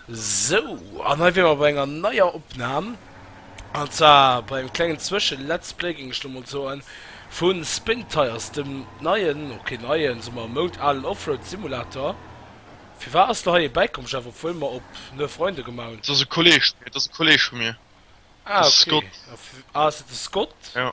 Sou, an hei wier mer bei enger neier Opnahm, an zwar bei engem klengen Zwësche Let's Play, géing ech lo mol soen, vu Spin Tires, dem neien, ok neien, soe mer moudalen Offroad Simulator. Firwat ass lo hei ee bäikomm, Jeff, obwuel mer op Neue Freunde gemaach hunn? Dat ass e Kolleeg vu mir, dat ass e Kolleeg vu mir, de Scott. Ah, ok, ass et de Scott? Jo.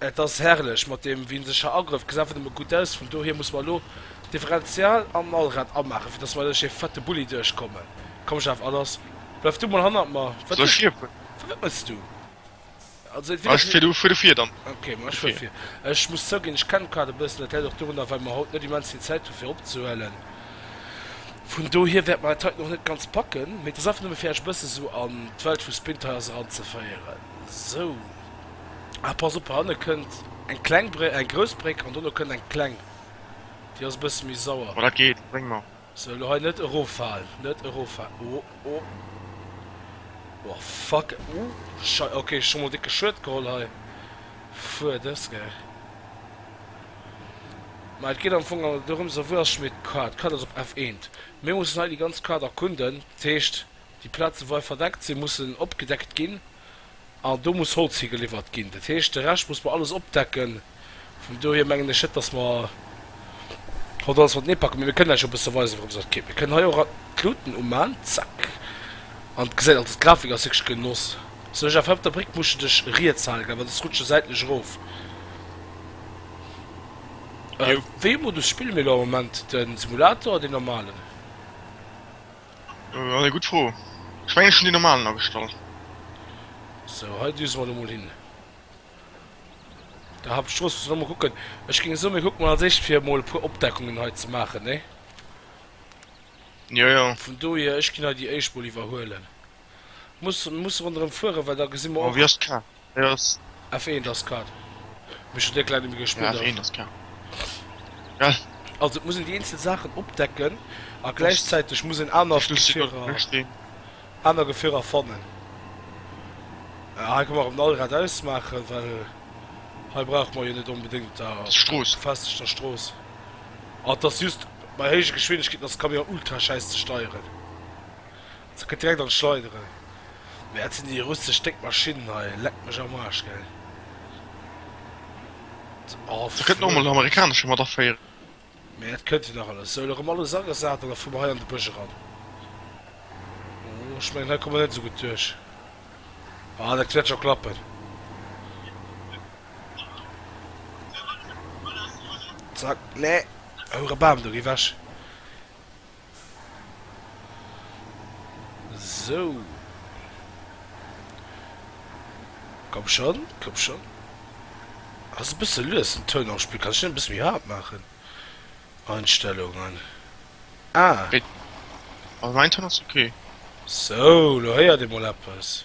Et ass herrlech mat deem wiesentlescher Agrëff, gesäit awer nëmme gutt aus. Vun dohier musse mer elo d'Differential an den Allrad amaachen, fir dass mer duerch dee fette Bulli duerchkommen. Komm Jeff Allers, bleif du mol hannert mer. Wat du, wat mëss du? Also et wier nach net. Fuer du vir dann. Ok, ma ech fuer vir. Ech muss zouginn, ech kennen d'Quad e bëssen. Dat läit och dorunner, well mer haut net immens vill Zäit hu fir opzehuelen. Vun dohier wäerte mer dat hei och net ganz packen. Mee et ass einfach nëmme fir iech e bësse sou an d'Welt vu Sprinter House eranzeféieren. Sou. Ah pass op, hanne kënnt eng kleng Bréck, eng grouss Bréck an dono kënnt eng kleng. Déi ass e bësse méi sauer. Ma dat geet, bréng mer. Sou, elo hei net eroffalen, net eroffalen. O, o. O fuck, o schei. Ok, ech hu mol décke Schued geholl hei. Fuer dës ge. Ma et geet am Fong awer dorëms, a wou ass schonn hei d'Card? D'Card ass op F1. Mir mussen hei déi ganz Carte erkunden. Dat heescht, déi Plaze wou hei verdeckt sinn, mussen opgedeckt ginn. An do muss Holz higeliwwert ginn. Dat heescht, de Rescht muss mer alles opdecken. Vun dohier mengen ech net, dass mer haut alles matenee packen. Mee mir kënnen Iech jo e bësse weisen, wourems et geet. Mir kënnen hei och d'Luuten umaan, zack. An d'gesäit, also d'Grafik ass wierklech Genoss. Sou, Jeff, hei op der Bréck muss de dech riets halen, gell, well soss rutscht de säitlech erof. Wéi e Modus spille mir elo am Moment? De Simulator oder deen normalen? Ass eng gutt Fro. Ech mengen ech hunn déi normalen agestallt. Sou, hei düse mer elo mol hin der Hauptstrooss. Muss ech nach mol kucken. Ech géing soen mir kucke mol als éischt fir mol e puer Opdeckungen hei ze maachen, nee? Jo, jo. Vun dohier, ech ginn hei déi éischt mol iwwerhuelen. Muss muss ronderem fueren well da gesi mer och. F1 ass Kart. Mee ech hunn déck laang net méi gespillt. Also et muss een déi eenzel Saachen opdecken a gläichzäiteg muss een aner aner Gefierer fannen. Hei ka mer erëm den Allrad ausmaachen, well hei brauche mer jo net onbedéngt da befestegter Strooss. An et ass just bei héije Geschwindegkeeten ass de Camion ultraschäiss ze steieren. Se kënnt direkt an d'Schleideren. Mee dat sinn déi russesch déck Maschinnen hei, leck mech am Aarsch, gell. Oh, Da kënnt noemol en amerikanesche mat aféieren. Mee dat kënnt jo nach alles. Sou, elo rëm alles agesat an da fuer mer hei an de Bësch eran. Oh, ech mengen, hei komme mer net esou gutt duerch. Ah, dat wäert scho klappen. Zack, nee, houere Bam do, géi wech. Sou. Komm schon, komm schon. Ass e bësse lues den Toun am Spill. Kann ech den e bësse méi haart maachen? Einstellungen. Ah! Mä mäin Toun ass ok. Sou, lo héiert ee mol eppes.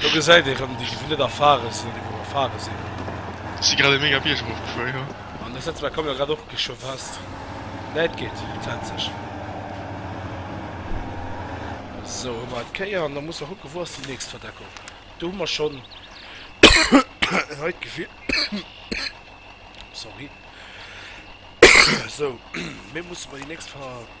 Do gesäit ee rem déi déi net erfare sinn an déi wou erfare sinn. Ech si grad e mega Bierg erof gefuer jo. An de Sëtzbänk kommen jo grad och scho fest. Nee et geet fenzeg. Sou hu mer et kéier an da musse mer kucke wou ass déi nächst Verdeckung. Do hu mer schonn hei d'Gefill sorry sou mee musse mer déi nächst Ver.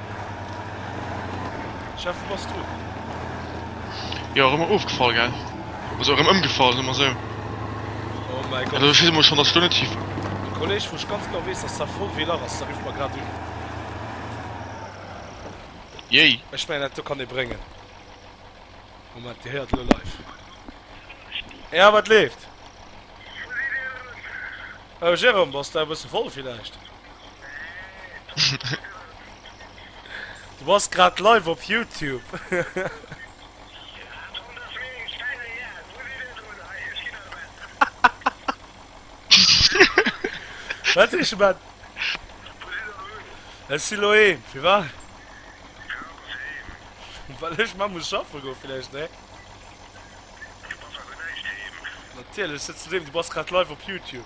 Jeff, bass du? Jo, erëm ofgefall, gell? Also erëm ëmgefall, soe mer esou. Oh mäi Gott. Also schisse mol schonn, dass ech do net schief. E Kolleg, wou ech ganz genau weess, dass dat voll wéi lach ass, da rifft mer grad un. Jéi. Ech mengen, dat do kann ee bréngen. Moment, Dir héiert elo live. Ja, wat leeft? Oh Jérôme, bass de e bësse voll villäicht? Du bass grad live op Youtube. Wat sees de Mann? Ech si lo heem. Firwat? Well ech mar muss schaffe goe villäicht, nee? Natierlech sëtzt du doheem, du bass grad live op Youtube.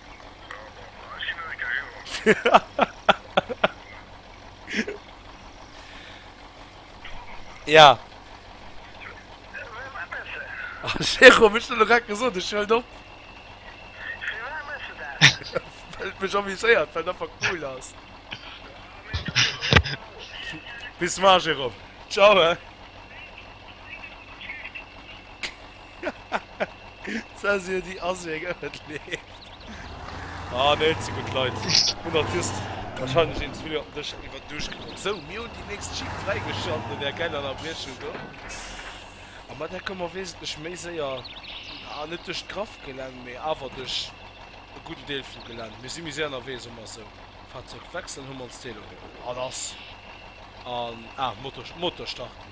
Ja. Jero, hun ech der grad gesot, ech hëlt op. Well et mech amuséiert, well et einfach cool ass. Bis mar, Jérôme. Ciao, he. Zensur déi ass wéi eng Ëffent leeft. Ah nee, ze gutt Leit hunn der just wahrscheinlech een ze vill op dech iwwer Duuscht geholl. Sou, mir hunn déi nächst Jeep fräigeschalt no där geiler Ënnerbriechung do. A mat där komme mer wesentlech méi séier, ah net duerch d'Graff-Gelänn, mee awer duerch e gudden Deel vum Gelänn. Mir si méi séier ënnerwee, soe mer sou. Fahrzeug wechseln, hu mer ons d'Velo geholl. An ass an, ah Motor, Motor starten.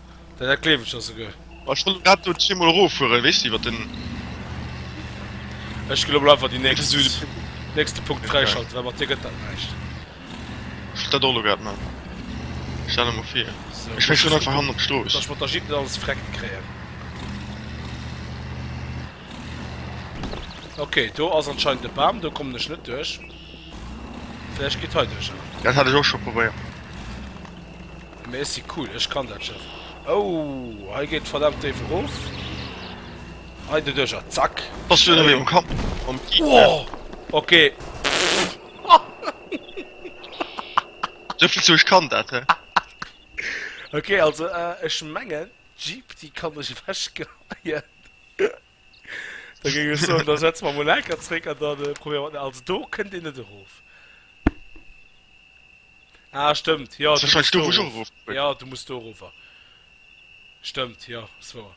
Dat dat gleef ech der souguer. Ech wollt grad do zweemol eroffueren, weess de, iwwer den. Ech ginn lo mol einfach déi nächst, nächste Punkt fräischalten, well mat dir gëtt dat näischt. Ech wollt dat och lo grad man. Stell der mol vir. Ech fäng schonn einfach hannen op d'Strooss. Dass ech mat der Jeep net alles vreckt kréien. Ok, do ass anscheinend e Bam, do kommen ech net duerch. Vläicht geet heiduerch. Dat hat ech och scho probéiert. Mee ech si cool, ech kann dat Schëff. Ouh, hei geet verdammt déif erof. Hei doduercher, zack. Bass du elo um Kapp vum Gegner? Ohh, okay. Souvill zu ech kann dat, hä? Okay, also ech mengen, d'Jeepty kann ech ewechgeheien. Da géing ech soen, da setze mer emol enker zréck an da probéiere mer. Also do kënnt een net erof. Ah stëmmt, jo du muss do erof. Jo du muss do erofer. Stëmmt jo ass wouer.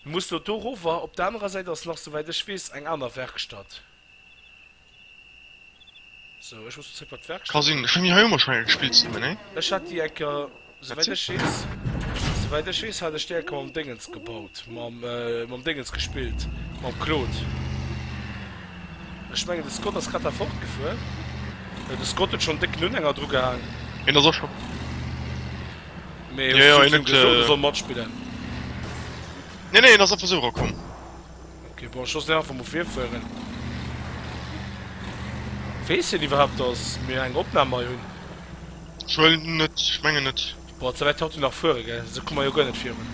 Du muss do do erofer. Op der anerer Säit ass nach souwäit ech weess eng aner Werkstatt. So, ech muss bezéck wat d'Werk. Ka sinn, ech hunn déi hei onwahrscheinlech gespillt ze nimmen, nee? Ech hat déi enker, souwäit ech weess, souwäit ech weess hat ech déi enker mam Déngens gebaut, mam, mam Déngens gespillt, mam Claude. Ech mengen de Scott ass grad da fortgefuer. Jo, de Scott huet schonn déck nun enger dru gehaang. Hien ass och scho. Mee hues du him gesot, e soll matspillen? Nee, nee, hien ass einfach esou erakomm. Ok bon ech loossen dei einfach mol virfueren. Wees hien iwwerhaapt dass mir eng Opnahm hei hunn? Ech huelen en net, ech mengen net. Boah ze wäit haut du nach fuere gell, esou komme mer jo guer net virun.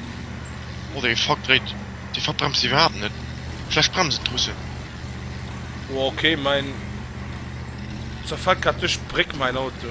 Oh dee Fuck dréit, dee Fuck bremst iwwerhaapt net, vläch bremsen d'Russen. Boah ok mein zerfällt grad duerch d'Bréck mein Auto.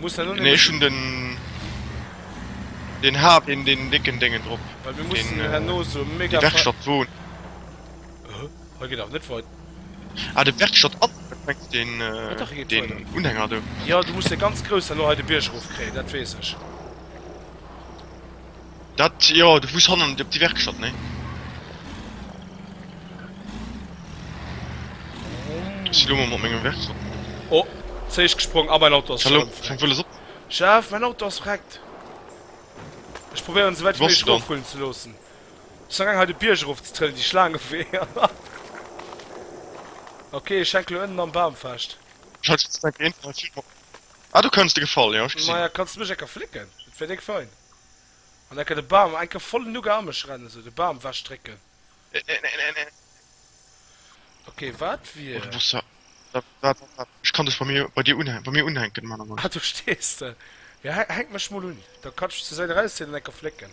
Muss da nun Nee, ech hun den. Deen Hard, deen deen décken Déngen drop. Well mir mussen herno sou e mega. Déi Werkstatt wou. Huh? Hei geet awer net wei. Ah, de Werkstatt an mengst deen. Jo dach, hei geet weider. Deen Unhänger do. Jo, du muss dee ganz groussen elo hei de Bierg erof kréien, dat weess ech. Dat, jo, du fuers hannen op déi Werkstatt, nee? Ech si lo mol mat mengem Werkstatt. Oh, z'éischt gesprong a mäin Auto ass schonn am Vreck. Jeff, mäin Auto ass vreckt! Ech probéieren, esou wäit wéi méiglech erofrullen ze loossen. Ech sinn am gaang hei de Bierg erof ze trëllen, déi Schlaang ewech. Ok, ech hänke lo ënnen am Bam fest. Ah, do kënns de gefall, jo, ech gesinn. Maja, kanns de mech enker flécken? Dat wär déck fein. An enke de Bam, enke vollen uga a mech rennen, sou de Bam wech drécken. Ok, wat wier. Ech kann dech bei mir bei dir unhänken, bei mir unhänken, Mann a Mann. Ah, do stees de. Jo, hänk mech mol un, da kann ech mech zur Säit erauszéien an enke flécken.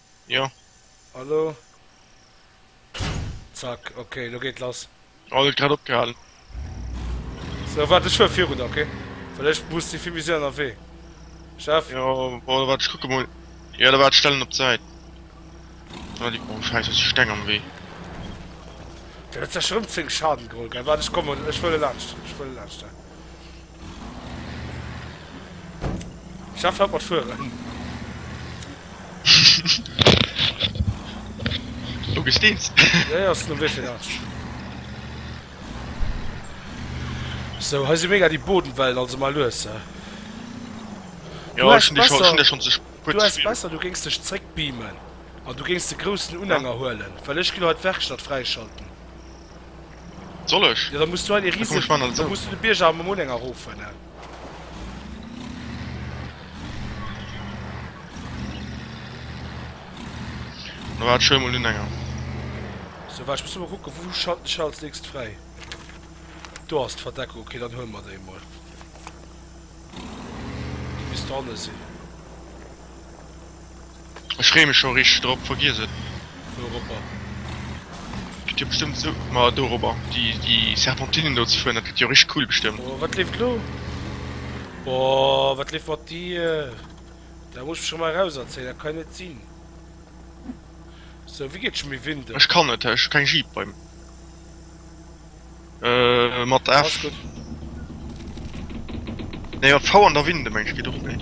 Jo. A lo? Zack, ok, lo geet lass. Oh, huet grad opgehalen. So, waart, ech fuer virun, ok? Well ech muss, si vill méi séier ënnerwee. Chef? Jo, bon, waart, ech kucke mol. Jo, da waart, ech stellen en op d'Säit. Oh, leck mech am Schäiss, ass e Steng am Wee. Dat huet sech erëm 10 Schaden geholl, gell? Waart, ech kommen, ech wëll e laanscht, ech wëll e laanscht, he. Schaff haut mat fueren. Oh gesteens. Ja ja ass no wéi vill Age? So hei si mega déi Bodenwellen also mei lues he. Jo ech hun déi schon ze spéit gespill. Du wars besser du géings dech zréck beamen an du géings de groussen Unhänger huelen, well ech gin haut d'Werkstatt fräischalten. Soll ech? Ja, da muss du hei de Riese, da muss du de Bierger am Moulin erofen. Da war schon mal länger. So, warte, ich muss mal gucken, wo schalten ich als nächstes frei. Du hast Verdeckung, okay, dann holen wir den mal. Bis da sind. Ech freeë mech scho richteg drop. Vergiess et. Wouropper? Et gëtt jo bestëmmt esou. Ma dorobber. Déi déi Serpentinen do ze fueren, dat gëtt jo richteg cool bestëmmt. Oh, wat leeft elo? Oh, wat leeft mat dir? Da muss ech mech emmer erauserzéien, dat kann jo net sinn. Sou, wéi geet et scho méi Winter? Ech kann net, ech hu keng Jeep bei. Mat F. Ass gutt. Nee, mat V an der Winde mengen ech geet och net.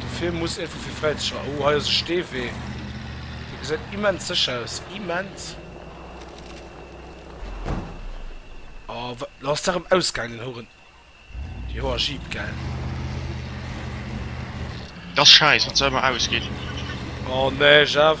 Dofir muss Info fir Fräizëcher. Oh hei ass e Steewee. Dee gesäit immens sécher aus. Immens. Oh wat lo ass der rëm ausgaang den Horen. Joer Jeep gell. Dass scheiss wanns der ëmmer ausgeet. Oh nee Jeff.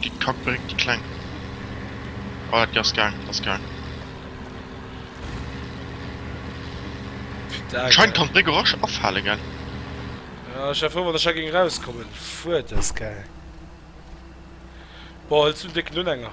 Gitt d'Kack Bréck déi Kleng. Voilà, déi ass gaang, ass gaang. Putain, Anscheinend kann d'Bréck och rasch afale, gell? Ja, ech war frou, wann ech da géing erauskommen. Fuck, dat ass gaang. Boah, huels du en décken Unhänger?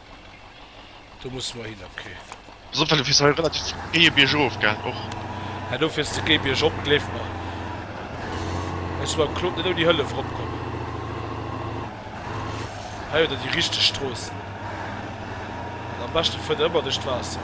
Du muss mer hin okay. Pass op well du fiers hei relativ géie biergof gell och. Hä do fiers de géi biergop gleef mer. Wéis du mam Claude net ouni Hëllef erop kommen. Hei huet der déi richteg Stroossen. An am beschte fuert der ëmmer duerch d'Waasser.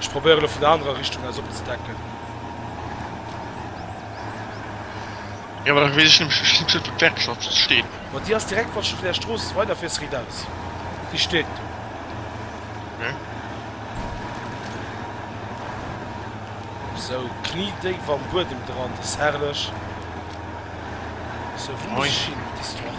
Ech probéieren elo vun der anerer Richtung aus opzedecken. Jo da wees ech nämlech net wou d'Werkschafft steet. Ma déi ass direkt wanns de vun der Strooss weider fiers riit aus. Déi steet do. Ok. Sou kniedéif am Buedem dran, dat ass herrlech. Sou wou muss ech hin? Déi Strooss.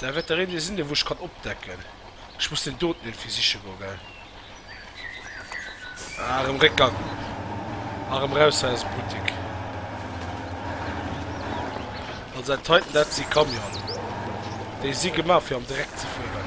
Da wäert der een Dee sinn, dee wou ech kann opdecken. Ech muss deen doten iergendwéi siche goen, gell? Ah, erëm réckgang. A rëm raus hei aus dem Buttek. Also dat heiten, dat si Camionen. Déi si gemaach, fir am Dreck ze fueren.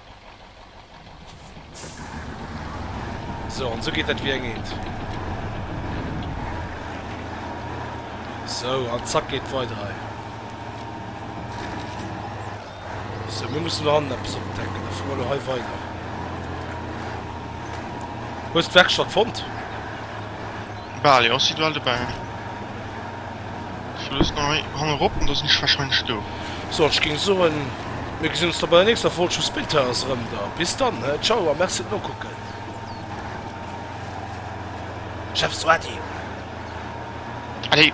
So an sou geet dat wéi eng Eent. Sou an zack geet weider hei. So mir mussen do hannen eppes opdecken, da fuere mer elo hei weider. Hues d'Werkstatt fonnt? Bal jo, ech si bal dobäi. Ech loossen hei hannerop an da sinn ech wahrscheinlech do. Sou, an ech géing soen, mir gesinn ons da bei der nächster Folg vu Spilltires erëm da. Bis dann, he, ciao a merci fir d'Nokucken. Chef, sou, Ady. Allez.